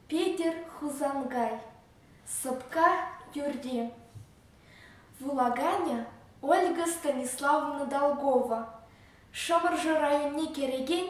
Петӗр Хусанкай сӑпка юрри вулаканӗ Ольга Станиславовна Долгова Шӑмӑршӑ районне кӗрекен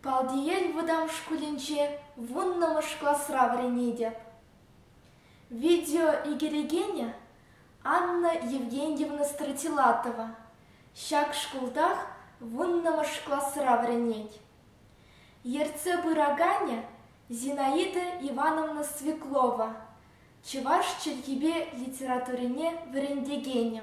Палтиел вӑтам шкулӗнче вуннӑмӗш класра вӗренетӗп. Видео ӳкерекенӗ Анна Евгеньевна Стратилатова ҫак шкултах вуннӑмӗш класра вӗренет. Ертсе пыраканӗ Зинаида Ивановна Свеклова, чӑваш чӗлхипе литературине вӗрентекенӗ.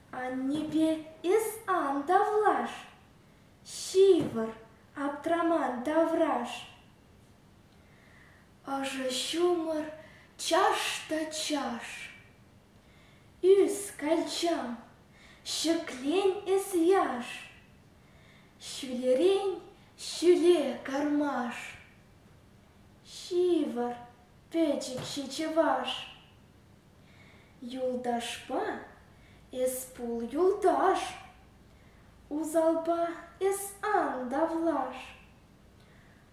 Аннепе эс ан тавлаш, ҫывӑр, аптраман тавраш. Ӑшӑ ҫумӑр чаш та чаш. Ӳс, калчам, ҫӗклен эс яш. Ҫӳлерен ҫӳле кармаш. Ҫывӑр, пӗчӗк ҫичӗ ваш. Юлташпа эс пул юлташ, Усалпа эс ан тавлаш,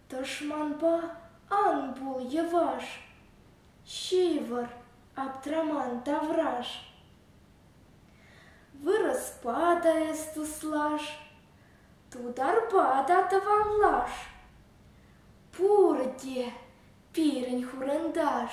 Тӑшманпа ан пул йӑваш, Ҫывӑр аптраман тавраш. Вырӑспа та эс туслаш, Тутарпа та тӑванлаш, Пурте пирӗн хурӑнташ.